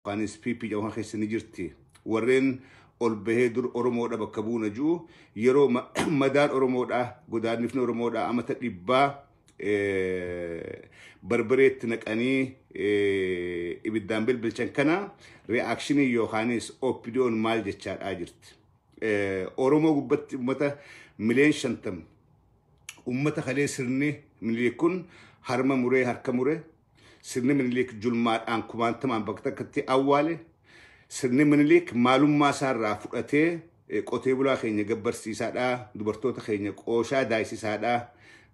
Anis PP jedhamu kana keessa ni jirti. Warreen ol bahee dur Oromoodha bakka buuna jiru yeroo ma- madaan Oromoodha godaannifni Oromoodha amata dhibbaa eh, barbareetti naqanii eh, ibiddaan bilbilchan kana reakshinii yookaanis OPDO'n maal jechaadhaa jirti. Eh, Oromoo gubbatti uummata miliyoon shantam uummata kalee sirni miliyoon kun harma muree harka mure Sirni Minilik julmaadhaan kumaantamaan bakka takkatti awwaale. Sirni Minilik maalummaa isaarraa fudhatee eh, qotee bulaa keenya gabbarsiisaadha, dubartoota keenya qooshaa daayisisaadha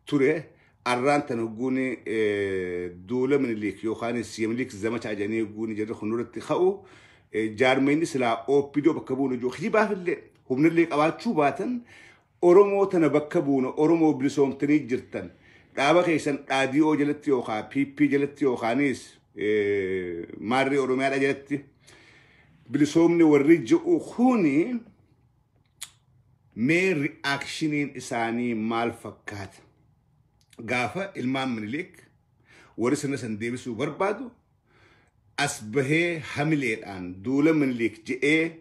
ture. Arraan tan hogguun eh, duula Minilik yookaanis Yeminilik zamacha ajanii hogguun jirri kun irratti ka'u eh, jaarmeenyi silaa OPDO bakka bu'uun hojii kijibaafillee humnillee qabaachuu baatan Oromoo tana bakka buuna Oromoo bilisoomtanii jirtan dhaaba keessan dhaadii'oo jalatti yookaan PP jalatti yookaanis maarrii Oromiyaadha jalatti bilisoomni warri ji'u kuni mee ri'aakshiniin isaanii maal fakkaata? Gaafa ilmaan minilik warri sirna san deebisuu barbaadu as bahee hamileedhaan duula Miniliik jedhee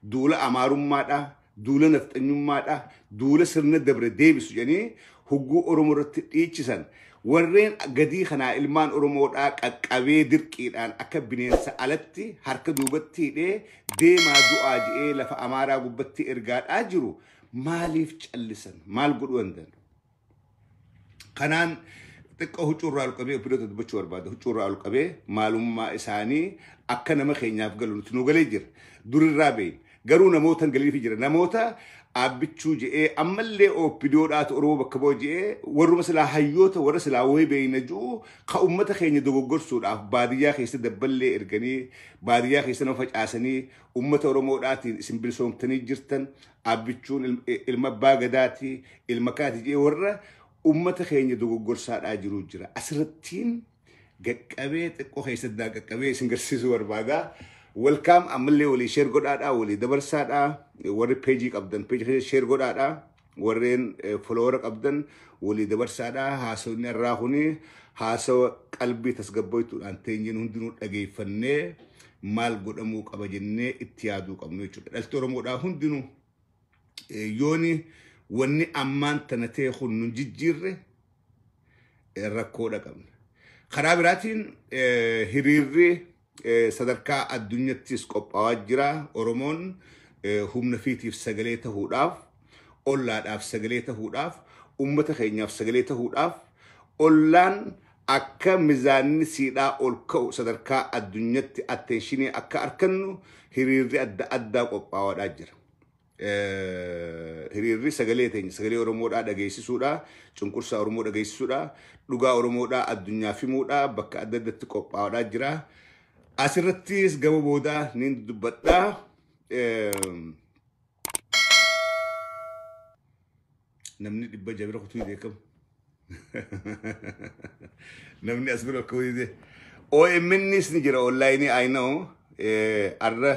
duula Amaarummaadha, duula nafxanyummaadha, duula sirna dabre deebisu jedhanii hugguu Oromoo irratti dhiichisan warreen gadii kanaa ilmaan Oromoodhaa qaqqabee dirqiidhaan akka bineensa alatti harka duubatti hidhee deemaa du'aa jedhee lafa Amaaraa gubbatti ergaadhaa jiru maaliif callisan? Maal godhuu danda'an? Kanaan xiqqoo huccuurraa ol qabee obboloota dubbachuu barbaada. Huccuurraa ol qabee maalummaa isaanii akka nama keenyaaf galu nuti nu galee jira. Durirraa beeyin. Garuu namoota hin galiifi jira. Namoota aabbichuu je'ee ammallee ooppidoodhaatu Oromoo bakka bu'a je'ee warruma silaa hayyoota warra silaa wayii beeyna ji'u ka ummata keenya dogoggorsuudhaaf baadiyyaa keessa dabballee erganii baadiyyaa keessa nama facaasanii ummata Oromoodhaatiin isin bilisoomtanii jirtan Abbichuun ilma abbaa gadaati, ilma kaati jee warra ummata keenya dogoggorsaadhaa jiruu jira. Asirrattiin gaqqabee xiqqoo keessatti naa qaqqabee isin garsiisuu barbaada. Welcome ammallee walii share godhaadhaa, walii dabarsaadhaa. Warri peejii qabdan peejii keessa share godhaadhaa. Warreen folowara qabdan walii dabarsaadhaa. Haasawni irraa kuni haasawa qalbii tasgabboituudhaan teenyeen hundinuu dhageeffannee maal godhamuu qaba jennee itti yaaduu qabnu jechuudha. Dhalti Oromoodhaa hundinuu yooni wanni ammaan tana ta'e kun nun jijjiirre rakkoodha qabna. Karaa biraatiin hiriirri sadarkaa addunyattis qophaa'aa jira. Oromoon humna fiitiif sagalee ta'uudhaaf, ollaadhaaf sagalee ta'uudhaaf, uummata keenyaaf sagalee ta'uudhaaf, ollaan Akka mizaanni siidhaa ol ka'u sadarkaa addunyatti atteenshinii akka arkannu hiriirri adda addaa qophaawaadhaa jira. Hiriirri sagalee teenya sagalee Oromoodhaa dhageessisuudhaa, cunqursaa Oromoo dhageessisuudhaa, dhugaa Oromoodhaa addunyaaf himuudhaa bakka adda addatti qophaawaadhaa jira. Asirrattis gama boodaa niin dubbadhaa. namni dhibba ija bira kutuu dide kam namni as bira kutuu dide OMNs ni jira online I know eh, arra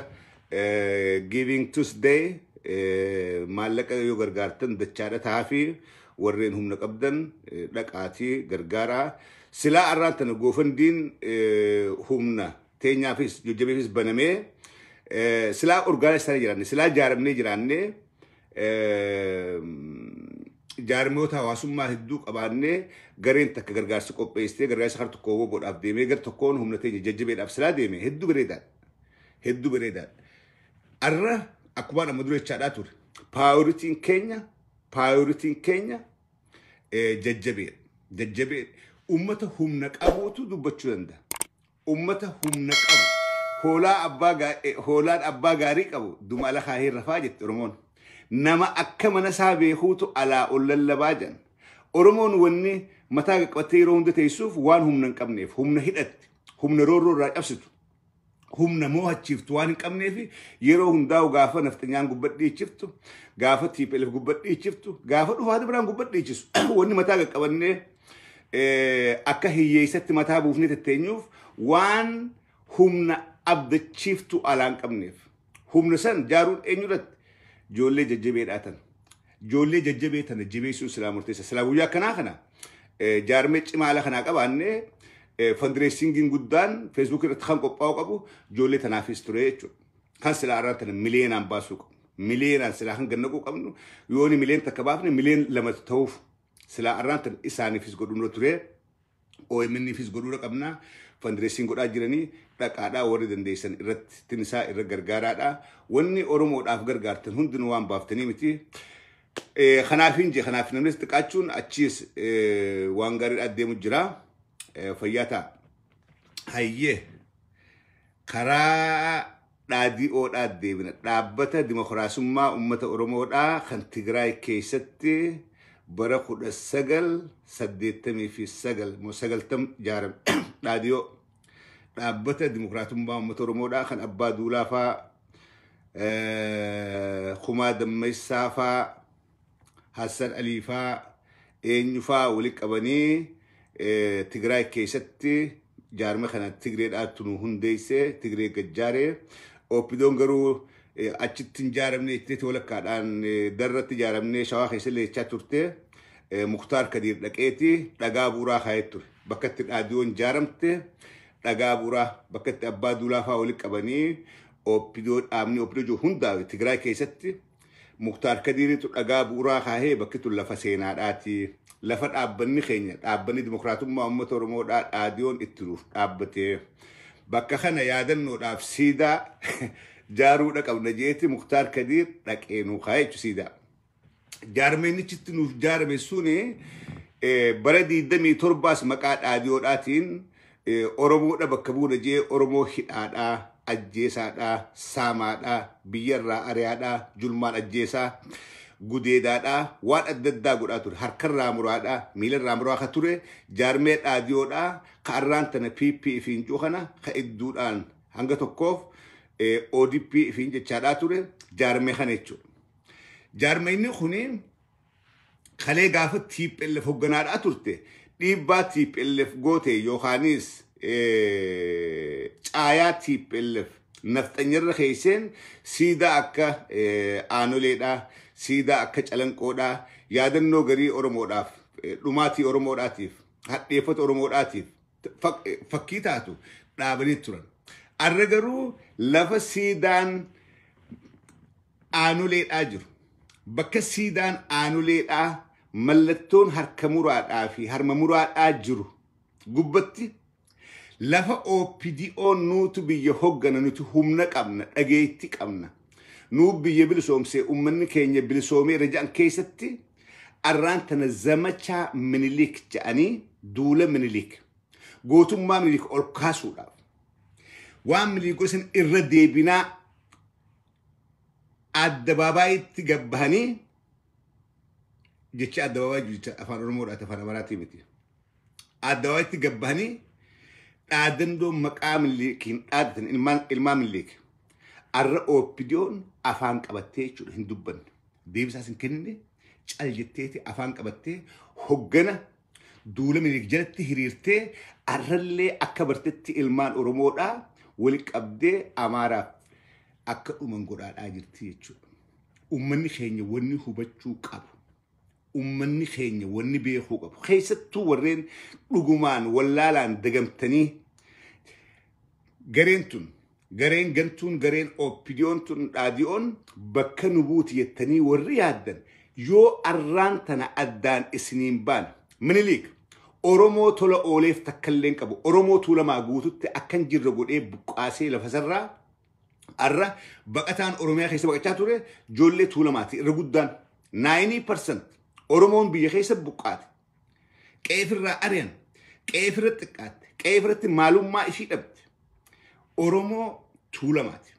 eh, giving Tuesday eh, maallaqa yoo gargaartan dachaadha taafii warreen humna qabdan eh, dhaqaatii gargaaraa silaa arraan tana goofandiin eh, humna teenyaafis jajjabeefis banamee eh, silaa orgaana isaanii jiraanne silaa jaaramnee jiraanne jaarmiyoota hawaasummaa hedduu qabaannee gareen takka gargaarsa qopheessitee gargaarsa harka tokko godhaaf deemee gar tokkoon humna teenya jajjabeedhaaf silaa deeme hedduu bareedaadha. Hedduu bareedaadha. Arra akkuma amma dura jechaadhaa ture. Paayoritiin keenya paayoritiin keenya jajjabeedha. Jajjabeedha. Uummata humna qabuutu dubbachuu danda'a. Ummata humna qabu. Hoolaa abbaa gaa, eh, hoolaan abbaa gaarii qabu duma ala kaahee rafaa jetti Oromoon. Nama akka mana isaa beekuutu alaa ol lallabaa jedhan. Oromoon wanni mataa gad qabattee yeroo hunda teessuuf waan humna hin qabneef, humna hidhatti, humna roorroo irraa cabsitu, humna moohachiiftu waan hin qabneef yeroo hundaa'u gaafa nafxanyaan gubbadhiichiftu, gaafa TPLF gubbadhiichiftu, gaafa dhufaati biraan gubbadhiichisu wanni mataa gad qabannee akka hiyyeessatti mataa buufnee tetteenyuuf waan humna abdachiiftuu alaan qabneef humna san jaaruun eenyurratti ijoollee jajjabee dhaatan ijoollee jajjabee tana jabeessuun silaa murteessa silaa guyyaa akkanaa kana jaarmee cimaa ala kanaa qabaannee fandireessingiin guddaan feesbuuk irratti kan qophaa'u qabu ijoollee tanaafis ture jechuudha kan silaa irraa tana miliyoonaan baasuu qabu miliyoonaan silaa kan gannaquu qabnu yooni miliyoon takka baafne miliyoon lama ta'uuf silaa arraan tan isaaniifis godhumra turee OMNifis godhuudha qabna fandireessiin godhaa jiranii dhaqaadhaa warri dandeessan irratti tinisaa irra gargaaraadha wanni oromoodhaaf gargaartan hundinuu waan baaftanii miti Eh, kanaaf hin jee kanaaf namnis xiqqaachuun achiis eh, waan gaariidhaa deemu jira Eh, fayyaa ta'a hayyee karaa DhDO dhaa deebina. Dhaabbata Dimokiraasummaa Uummata Oromoo dhaa kan Tigraay keessatti bara 1989 moo 90 ijaarame. DhDO dhaabbata Dimokiraatummaa Uummata Oromoo dhaa kan Abbaa Duulaa faa, eh, Kumaa Dammaysaa faa, Hassan Alii faa eenyu faa walitti qabanii eh, Tigraay keessatti jaarma kana Tigree dhaattu nu hundeesse Tigree gajjaare Oppidoon garuu eh, achitti hin jaaramne jettee walakkaadhaan eh, darratti jaaramne shawaa keessa leechaa turte eh, Muktaar Kadiir dhaqeeti dhagaa buuraa kaa'ee ture bakka itti dhaadiyoon jaaramte dhagaa buuraa bakka itti abbaa duulaa faa walitti qabanii Oppidoo dhaabni Oppidoo jiru hundaa'e Tigraay keessatti Muktaar Kadiiritu dhagaa bu'uraa kaahee bakki tun lafa seenaadhaati. Lafa dhaabbanni keenya dhaabbanni dimokiraatummaa uummata Oromoodhaa dhaadiyoon itti nuuf dhaabbate. Bakka kana yaadannoodhaaf siidaa jaaruudha qabna jeeti Muktaar Kadiir dhaqee nuu kaa'e jechuudha siidaa. Jaarmeennichitti nuuf jaarame suni bara 27 maqaa dhaadiyoodhaatiin Oromoodha bakka buuna jee Oromoo hidhaadha, ajjeesaadha, saamaadha, biyyarraa ariyaadha, julmaan ajjeesaa, gudeedaadha, waan adda addaa godhaa ture. Harkarraa muraadha, miilarraa muraa ka ture, jaarmee dhaadiyoodha, ka arraan tana PP ifiin jiru kana ka idduudhaan hanga tokkoof ODP ifiin jechaadhaa ture, jaarmee kana jechuudha. Jaarmeenyi kuni kalee gaafa TPLF hogganaadhaa turte dhiibbaa TPLF goote yookaanis eh, caayaa TPLF nafxanyarra keesseen siidaa akka eh, aanoleedhaa siidaa akka calanqoodhaa yaadannoo garii Oromoodhaaf eh, dhumaatii Oromoodhaatiif hadheeffata Oromoodhaatiif fak- eh, fakkii taatu dhaabanii turan. Arra garuu lafa siidaan aanoleedhaa jiru. Bakka siidaan aanoleedhaa mallattoon harka muraadhaa fi harma muraadhaa jiru gubbatti lafa OPDO nuutu biyya hoggana nuti humna qabna dhageetti qabna nuu biyya bilisoomsee ummanni keenya bilisoomee irra jedhan keessatti arraan tana zamachaa minilik jedhanii duula minilik gootummaa minilik ol kaasuudhaaf waan minilik godhan irra deebinaa addabaabaayitti gad bahanii jecha addabaabaayii jecha afaan oromoodhaati afaan amaraatii miti addabaabaayitti gad bahanii dhaadannoo maqaa milliikiin dhaadatan ilmaan ilmaan milliik arra ooppidiyoon afaan qabattee jechuudha hin dubbanne deebisaas hin kennine cal jetteeti afaan qabattee hoggana duula Minilik jalatti hiriirtee arrallee akka bartetti ilmaan Oromoodhaa wal qabdee Amaaraaf akka dhuman godhaadhaa jirti jechuudha. Uummanni keenya wanni hubachuu qabu. Uummanni keenya wanni beekuu qabu. Keessattuu warreen dhugumaan wallaalaan dagamtanii gareen tun Gareen gantuun gareen OPDOn tun dhaadiyoon bakka nu buuti jettanii warri yaaddan yoo arraan tana addaan isiniin baane Miniliik Oromoo tola ooleef takkalleen qabu Oromoo Tuulamaa guututti akkan jirre godhee buqqaasee lafasarraa arra baqataan Oromiyaa keessa baqachaa ture joollee Tuulamaati irra guddaan 90% Oromoon biyya keessa buqqaate qeefirraa ari'an, qeefirra xiqqaatte, qeefirratti maalummaa ishii dhabde. Oromoo tuulamaati.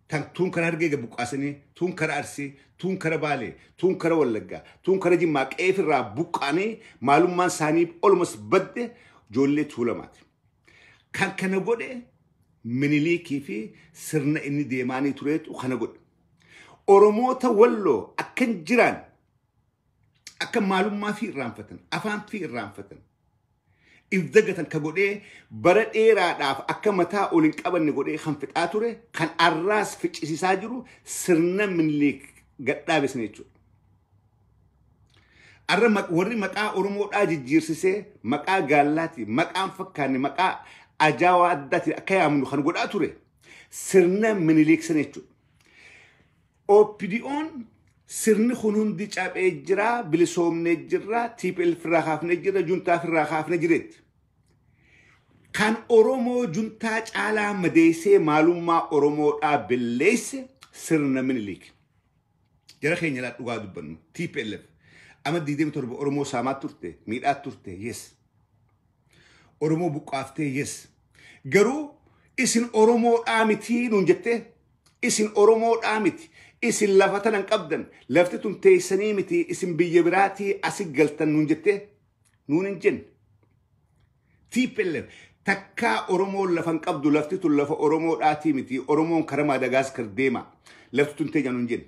Tan tuun kara hargee gad buqqaasanii, tuun kara arsii, tuun kara baalee, tuun kara wallaggaa, tuun kara jimmaa qeefirraa buqqaanii maalummaan isaanii olumas badde ijoollee tuulamaati. Kan kana godhe miniliikii fi sirna inni deemaanii tureetu kana godhe. Oromoota walloo akkan jiraan akka maalummaa fi irraanfatan afaan fi irraanfatan if dagatan ka godhee bara dheeraadhaaf akka mataa ol hin qabanne godhee kan fixaa ture kan arraas ficcisiisaa jiru sirna minilik gadhaabe sana jechuudha. Arra ma- warri maqaa Oromoodhaa jijjiirsisee maqaa gaallaati maqaan fakkaanne maqaa ajaawaa addaatiin akka yaamnu kan godhaa ture sirna minilik sana jechuudha. OPDOn sirni kun hundi caphee jira, bilisoomnee jirra, TPLF irraa kaafnee jirra, juntaaf irraa kaafnee jireetti. Kan Oromoo juntaa caalaa madeessee maalummaa Oromoodhaa belleesse sirna Minilik. Jara keenya laa dhugaa dubbannu, TPLF. Ama 27 Oromoo saamaa turte, miidhaa turte, yes. Oromoo buqqaaftee, yes. Garuu isin Oromoodhaa mitii nuun jettee Isin Oromoodhaa miti. Isin lafa tana hin qabdan. Lafti tun teessanii miti. Isin biyya biraatii asi galtan nuun jettee nuun hin jenne. TPLF takkaa Oromoon lafa hin qabdu lafti tun lafa Oromoodhaatii miti. Oromoon karaa Maadagaaskar deema. Lafti tun teenya nuun jenne.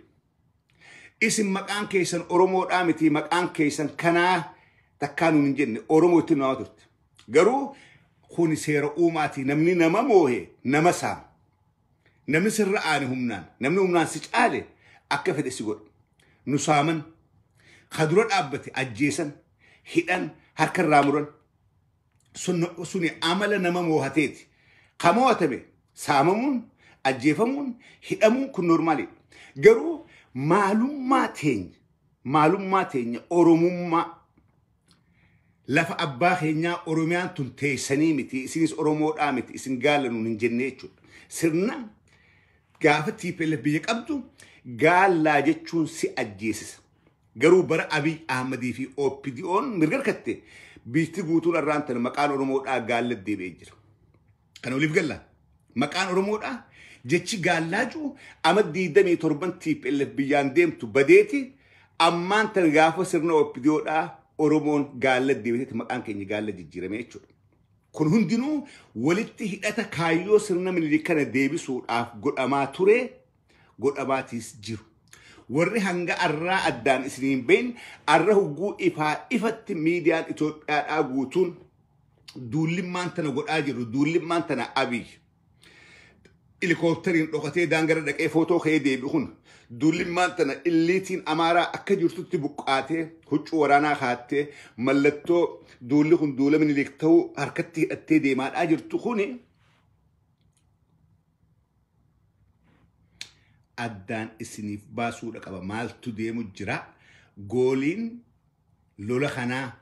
Isin maqaan keessan Oromoodhaa miti maqaan keessan kanaa takkaa nuun hin jenne. Oromoo ittiin waamaa turte. Garuu kuni seera uumaatii namni nama moohe nama saama. Namni sirra aane humnaan, namni humnaan si caale akka fedhe si godha. Nu saaman, ka dura dhaabbate ajjeesan, hidhan, harka irraa muran. Sun, suni amala nama moohateeti. Ka moohatame saamamuun, ajjeefamuun, hidhamuun kun normaaliidha. Garuu maalummaa teenya, maalummaa teenya Oromummaa Lafa abbaa keenyaa Oromiyaan tun teessanii miti, isinis Oromoodhaa miti, isin gaala nuun hin jennee jechuudha. Sirna gaafa TPLF biyya qabdu gaallaa jechuun si ajjeesisa. Garuu bara Abiy Ahmadii fi OPDO'n mirga harkatte biitti guutuun arraan tana maqaan Oromoodhaa gaalla deebi'ee jira. Kan oliif galla. Maqaan Oromoodha. Jechi gaallaacuu ama 27 TPLF biyyaan deemtu badeeti. Ammaan tan gaafa sirna OPDOdhaa Oromoon gaalla deebitetti maqaan keenya gaalla jijjiirame jechuudha. Kun hundinuu walitti hidhata kaayyoo sirna minilik kana deebisuudhaaf godhamaa ture godhamaatiis jiru. Warri hanga arraa addaan isiniin bahin arra hogguu ifaa ifatti miidiyaan Itoophiyaadhaa guutuun duullimmaan tana godhaa jiru duullimmaan tana abiy ilikooptariin dhokatee daangara dhaqee footoo ka'ee deebi kun duullimmaan tana illiitiin amaaraa akka jirtutti buqqaatee huccuu waraanaa kaattee mallattoo duulli kun duula minilik ta'uu harkatti hidhattee deemaadhaa jirtu kuni addaan isiniif baasuudha qaba maaltu deemu jira gooliin lola kanaa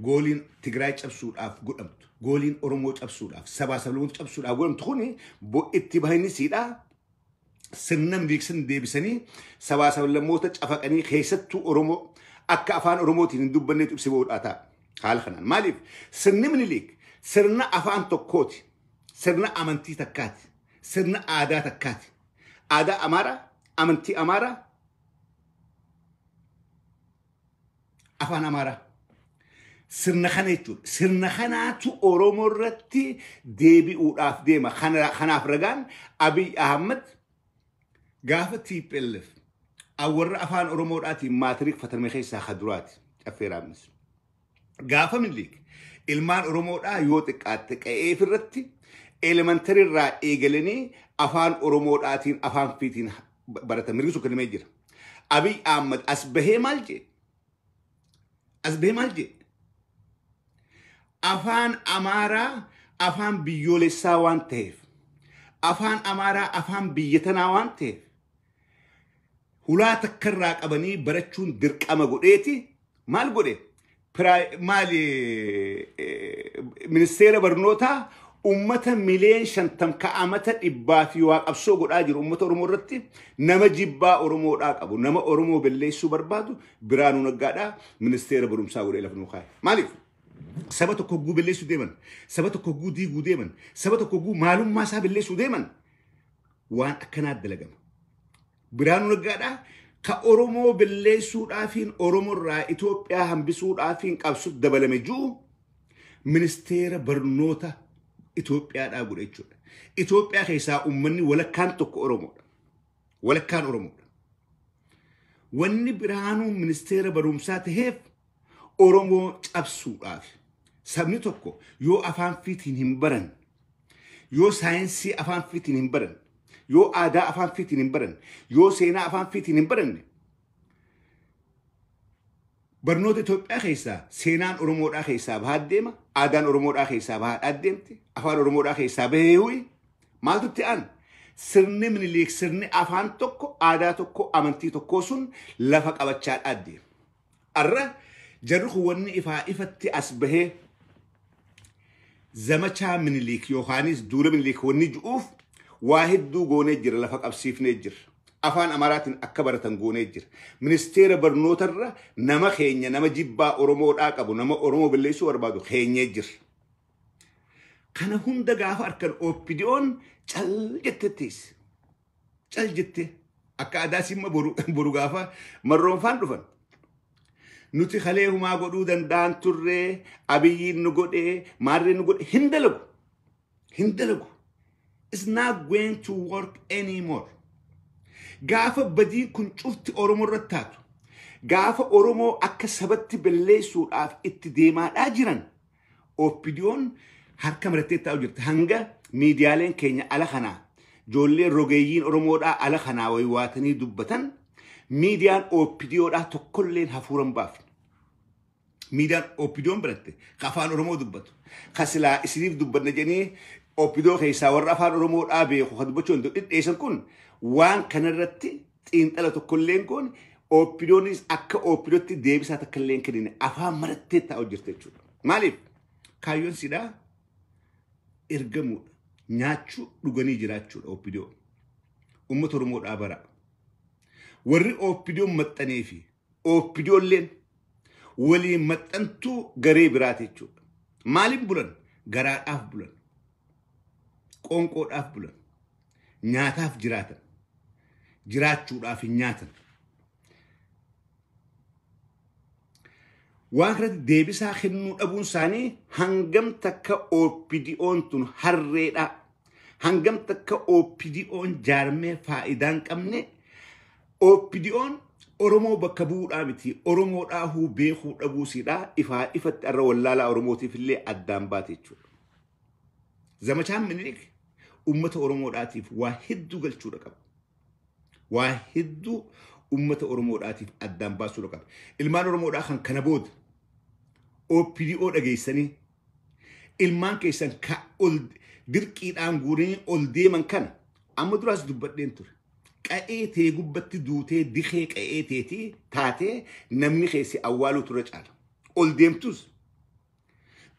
gooliin Tigraay cabsuudhaaf godhamtu, gooliin Oromoo cabsuudhaaf, sabaa sablammoota cabsuudhaaf godhamtu kun bo- itti bahinisiidha. Sirna miliiksan deebisanii sabaa sablammoota cafaqanii keessattuu Oromoo akka afaan Oromootiin hin dubbanneetu ibsi bahuudhaa ta'a. Haala kanaan. Maaliif? Sirni Minilik sirna afaan tokkooti. Sirna amantii takkaati. Sirna aadaa takkaati. Aadaa Amaaraa, amantii Amaaraa, afaan amaaraa sirna kana jechuudha. Sirna kanaatu Oromoo irratti deebi'uudhaaf deema. Kana- Kanaaf ragaan Abiy Ahmad gaafa TPLF warra afaan Oromoodhaatiin maatiriik fatarme keessaa ka duraati. Caffee Raammis. Gaafa Miniliik ilmaan Oromoodhaa yoo xiqqaatte qa'eef irratti elementary irraa eegalanii afaan Oromoodhaatiin afaan fiitiin baratan mirgi sun kennamee jira. Abiy Ahmad as bahee maal jee? As bahee maal jee? Afaan Amaaraa afaan biyyoolessaa waan ta'eef afaan Amaaraa afaan biyya tanaa waan ta'eef hulaa takka irraa qabanii barachuun dirqama godheeti maal godhe Piraa- maali eh, ministeera barnootaa ummata mileen shantam ka'amata dhibbaa fi waa qabsoo godhaa jiru ummata oromoo irratti nama jibbaa oromoodhaa qabu nama oromoo belleessuu barbaadu biraanuu naggaadhaa ministeera barumsaa godhee lafa nuu kaa'e maaliif saba tokko hogguu belleessuu deeman saba tokko hogguu diiguu deeman saba tokko hogguu maalummaa isaa belleessuu deeman waan akkanaa dalagama. Biraanuu Naggaadhaa ka Oromoo balleessuudhaafiin Oromoo irraa Itoophiyaa hambisuudhaafiin qabsu dabalame jiru ministeera barnoota Itoophiyaadhaa godhe jechuudha. Itoophiyaa keessaa uummanni walakkaan tokko Oromoodha. Walakkaan Oromoodha. Wanni Biraanuun ministeera barumsaa taheef Oromoo cabsuudhaaf sabni tokko yoo afaan fiitiin hin baran yoo saayinsii afaan fiitiin hin baran yoo aadaa afaan fiitiin hin baran yoo seenaa afaan fiitiin hin baranne barnoota Itoophiyaa keessaa seenaan Oromoodhaa keessaa bahaa deema, aadaan Oromoodhaa keessaa bahaa deemti, afaan Oromoodhaa keessaa bahee huyi. Maaltu itti aanu? Sirni Minilik sirni afaan tokko, aadaa tokko, amantii tokkoo sun lafa qabachaa deema. Arra jarri kun wanni ifaa ifatti as bahee zamachaa miniliik yookaanis duula miniliik wanni ju'uuf waa hedduu goonee jira lafa qabsiifnee jira. Afaan Amaraatiin akka baratan goonee jira. Ministeera barnootarra nama keenya nama jibbaa Oromoodhaa qabu nama Oromoo balleessuu barbaadu keenyee jira. Kana hunda gaafa arkan OPDOn cal jettettiis. Cal jettee akka adaa simma boru boru gaafa marroonfaan dhufan. Nuti kalee humaa godhuu danda'an turree abiyyiin nu godhee maarree nu godhe hin dalagu. Hin dalagu. It's not going to work anymore. Gaafa badiin kun cufti Oromoo irratti taatu. Gaafa Oromoo akka sabatti balleessuudhaaf itti deemaadhaa jiran. OPDOn harka marattee taa'u jirti. Hanga miidiyaaleen keenya ala kanaa ijoolleen rogeeyyiin Oromoodhaa ala kanaa waywaatanii dubbatan miidiyaan OPDOdhaa tokkolleen hafuura hin baafne. Miidiyaan OPDOn biratte ka afaan Oromoo dubbatu ka silaa isiniif dubbanna jedhanii OPDO keessaa warra afaan Oromoodhaa beeku ka dubbachuu hin dhidheessan kun waan kanarratti xiinxala tokkollee hin goone oopidoonis akka oopidootti deebisaa takkallee hin kennine afaan marattee taa'u jirti jechuudha. Maaliif? Kaayyoon siidhaa ergamuudha. Nyaachuu dhuganii jiraachuudha oopidoo. Uummata Oromoodhaa bara. Warri oopidoon maxxanee fi oopidoolleen waliin maxxantuu garee biraati jechuudha. Maaliif bulan? Garaadhaaf bulan. Qoonqoodhaaf bulan. Nyaataaf jiraatan. Jiraachuudhaaf hin nyaatan. Waan kanatti deebisaa kennuu dhabuun isaanii hangam takka OPDO'n tun harreedha. Hangam takka OPDO'n jaarmee faayidaa hin qabne. OPDO'n Oromoo bakka bu'uudhaa miti. Oromoo dhaahuu beekuu dhabuusidha. Ifaa ifatti irra wallaalaa Oromootiif illee addaan baate jechuudha. Zamachaan Minilik uummata Oromoodhaatiif waa hedduu galchuudha qaba. Waa hedduu uummata Oromoodhaatiif addaan baasuudha qaba. Ilmaan Oromoodhaa kan kana booda OPDO dhageessanii ilmaan keessan ka ol dirqiidhaan guuranii ol deeman kana amma duraas dubbadheen ture. Qa'ee tee gubbatti duutee dikee qa'ee teetii taatee namni keessi awwaaluu turre caala. Ol deemtus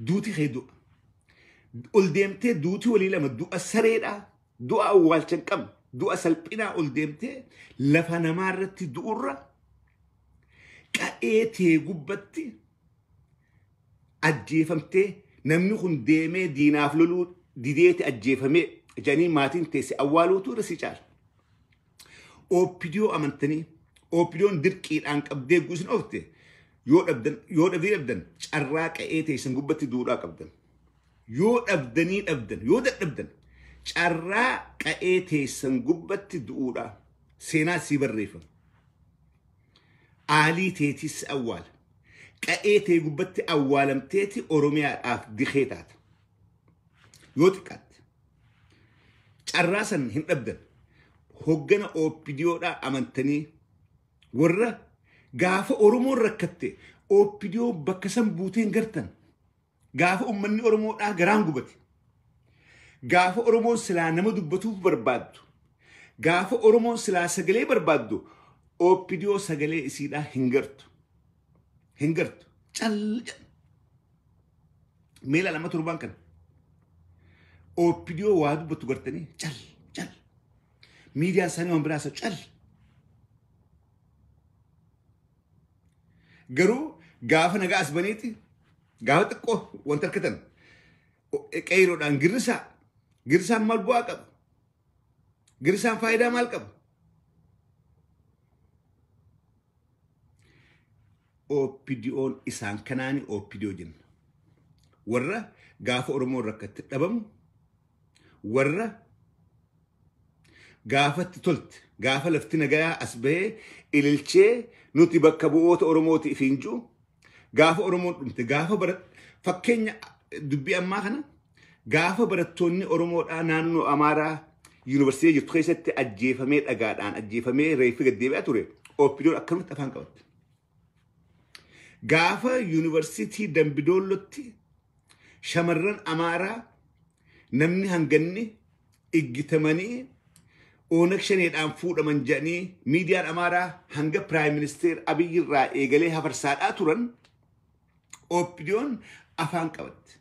Duuti kee du'a. Ol deemtee duuti walii lama du'a sareedhaa du'a awwaalcha hin qabne du'a salphinaa ol deemtee lafa namaa irratti du'urra qa'ee tee gubbatti ajjeefamtee namni kun deemee diinaaf loluu dideeti ajjeefamee jedhanii maatiin teesse awwaaluutu irra si caala. Oopidiyoo amantanii oopidiyoon dirqiidhaan qabdee guusin ofte yoo dhabdan yoo dhabdee dhabdan carraa qa'ee teessan gubbatti duudhaa qabdan. Yoo dhabdanii dhabdan yoo dadhabdan carraa qa'ee teessan gubbatti du'uudhaa seenaa sii barreeffama. Aalii teetis awwaala. Qa'ee tee gubbatti awwaalamteeti Oromiyaadhaaf dikee taata. Yoo xiqqaatte carraa san hin dhabdan hoggana OPDOdhaa amantanii warra gaafa Oromoon rakkatte OPDO bakka san buuteen gartan gaafa ummanni Oromoodhaa garaan gubate gaafa Oromoon silaa nama dubbatuuf barbaaddu gaafa Oromoon silaa sagalee barbaaddu OPDO sagalee isiidhaa hin gartu hin gartu cal jedha. Meela lama torbaan kana. Oopidiyoo waa dubbattu gartanii cal cal. Miidiyaan isaanii waan biraa isa cal. Garuu gaafa nagaa as baniiti gaafa xiqqoo wanta harkatan qeeroodhaan girrisaa girrisaan maal bu'aa qabu? Girrisaan faayidaa maal qabu? OPDOn isaan kanaani OPDO jenna. Warra gaafa Oromoon rakkatte dhabamu, warra gaafatti tolte, gaafa lafti nagayaa as bahee ililchee nuti bakka bu'oota Oromooti ifiin jiru, gaafa Oromoon dhumte, gaafa bara fakkeenya dubbii ammaa kana gaafa barattoonni Oromoodhaa naannoo Amaaraa yuunivarsiitii jirtu keessatti ajjeefamee dhagaadhaan ajjeefamee reeffi gad deebi'aa ture OPDOn akkamitti afaan qabatte. Gaafa yuunivarsiitii Dambidoollotti shamarran Amaaraa namni hanganni iggitamanii Oonag Shaneedhaan fuudhaman jedhanii miidiyaan Amaaraa hanga Piraayim Ministeer Abiyyi irraa eegalee hafarsaadhaa turan OPDOn afaan qabatte.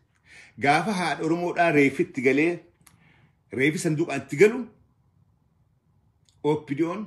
Gaafa haadha Oromoodhaa reefitti galee reefi sanduuqaan itti galu OPDOn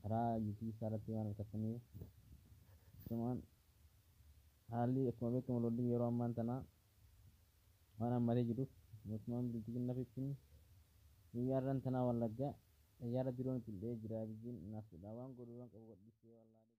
karaa youtube isaa irratti waan argattaniif asumaan haalli akkuma beekamu lollii yeroo ammaan tanaa waan hammatee jiruuf mootummaan bilxiginna fittin guyyaa irran tanaa wallaggaa xayyaara diroon ittiin dha'ee jira abiyyiin naaftuudhaa waan godhu waan qabu gadhiisee wallaalee